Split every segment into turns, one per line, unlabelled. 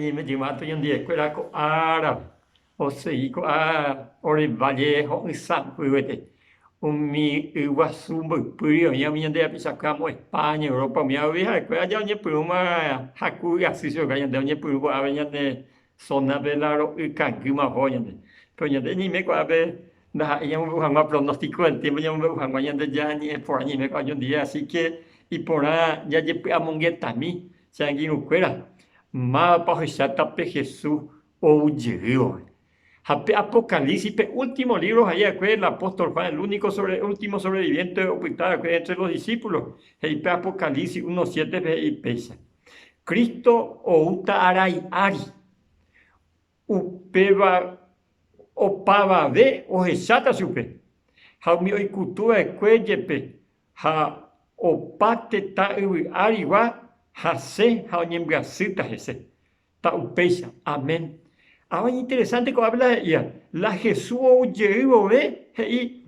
Jeñemetyvã tuñandiekuéra ko ára osegi ko'ã ore valle ho'ysãmbyvete, umi yguasu mboypýri oĩva umi ñande rapichakuéra amo España, Europa, umi árape ha'ekuéra aja oñepyrũma haku ygasy chugui, ñande oñepyrũ ko'ápe ñande Zona pe la ro'y kangýma oho ñande. Pero ñande ñeime kuaápe ndaha'éi ñamombe'u hag̃ua pronóstico del tiempo ñamombe'u hag̃ua ñande ja ñe'ẽ porã ñeime kuaápe oñondive, así que iporã jajepy'amongetami che angirũ kuéra mávapa ohecháta pe Jesús ou jeývore. Ha pe Apocalipsis pe último libro ha iva'ekue el apóstol Juan, el único sobre, último sobreviviente opyta va'ekue entre los discípulos, he'i pe Apocalipsis uno siete pe he'i péicha. Cristo oúta arai ári, upéva opavave ohecháta chupe, ha umi oikutu va'ekue jepe, ha opa tetã yvy árigua hasẽ ha oñembyasýta hese. Ta upéicha. Amén. Avaño interesante ko'ápe la he'íva, la Jesús ou jey vove he'i.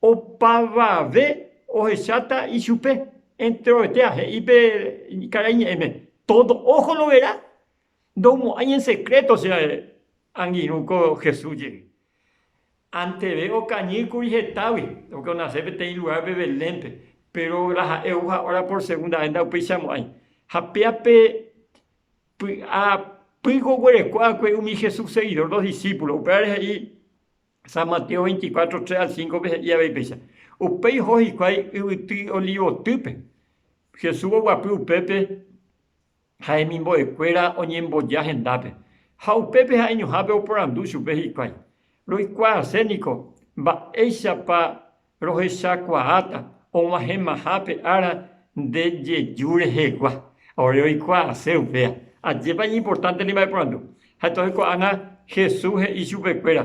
Opavave ohecháta ichupe, enteroetéha he'i pe karai ñe'ẽme, Tódo óho loverá, ndomo'ãi en sekréto che angirũ ko Jesús jey. Anteve okañy kuri hetágui, pórke onase peteĩ lugárpe Belénpe, péro la ha'e ou ha óra pór segunda ves ndaupeichamo'ãi. Ha péape py'a pýko oguereko va'ekue umi Jesús segidór dos disípulos, upévare he'i, San Mateo 24, 3 al 5-pe he'i avei péicha. Upéi oho hikuái yvyty Olivotýpe. Jesús oguapy upépe ha hemimbo'ekuéra oñemboja hendápe. Ha upépe ha'eñohápe oporandu chupe hikuái, Roikuaase niko mba'éichapa Rohechakuaáta og̃uahẽmaha pe ára nde jeju rehegua. Ore oikuaase upéva, ajépa iñimportánte ne mba'eporandu. Ha'e tohekuaána Jesús he'i chupekuéra,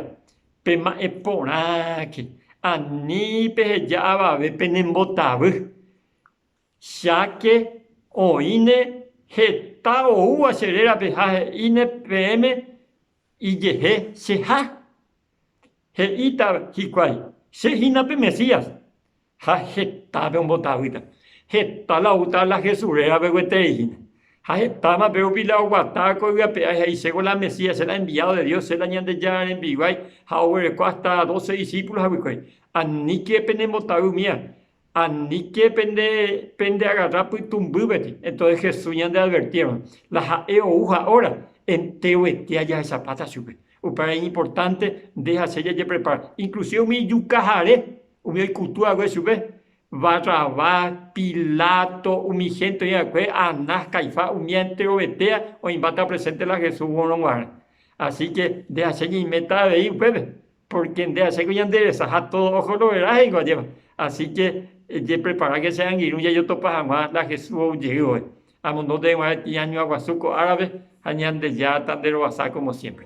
Pema'ẽ porãke, ani peheja avave penembotavy. Cháke oĩne heta oúva che rérape ha he'íne peẽme, Ijehe cheha. He'íta hikuái, Che hína pe Mesías. Ha hetápe ombotavýta. Heta la outa la Jesús rérape gueteri hína. Ha hetáma pe rupi la oguata koygue ape ári he'i, Chéko la Mesías, che la enviado de Dios, che la Ñandejára rembiguái, ha oguereko hasta doce discípulos haguikuéri. Aníke penembotavy umíva. Aníke pende, pende agarra pytũmbýveri. Entonces Jesús ñande advertírõ, la ha'e ou ha hora, enteroete ajahechapáta chupe. Upéva iñimportánte nde ha che jajeprepara. Inclusive umi ijukahare, umi oikutu hague chupe, Barrabás, Pilato, umi hénte oĩ va'ekue, Anás, Caifás, umi enterovetéva oĩmbáta presente la Jesús oguerõguare. Asíke nde ha che ñaiméta avei upépe, Pórke nde aséko ñanderesaha tódo oho roverã he'íngo ajépa. Asíke ejepreparáke che angirũ jajotopa hag̃ua la Jesús ou jeývagui. Amondónte hag̃ua iñañuãguasu ko árape ha Ñandejára tanderovasa kómo siémpre.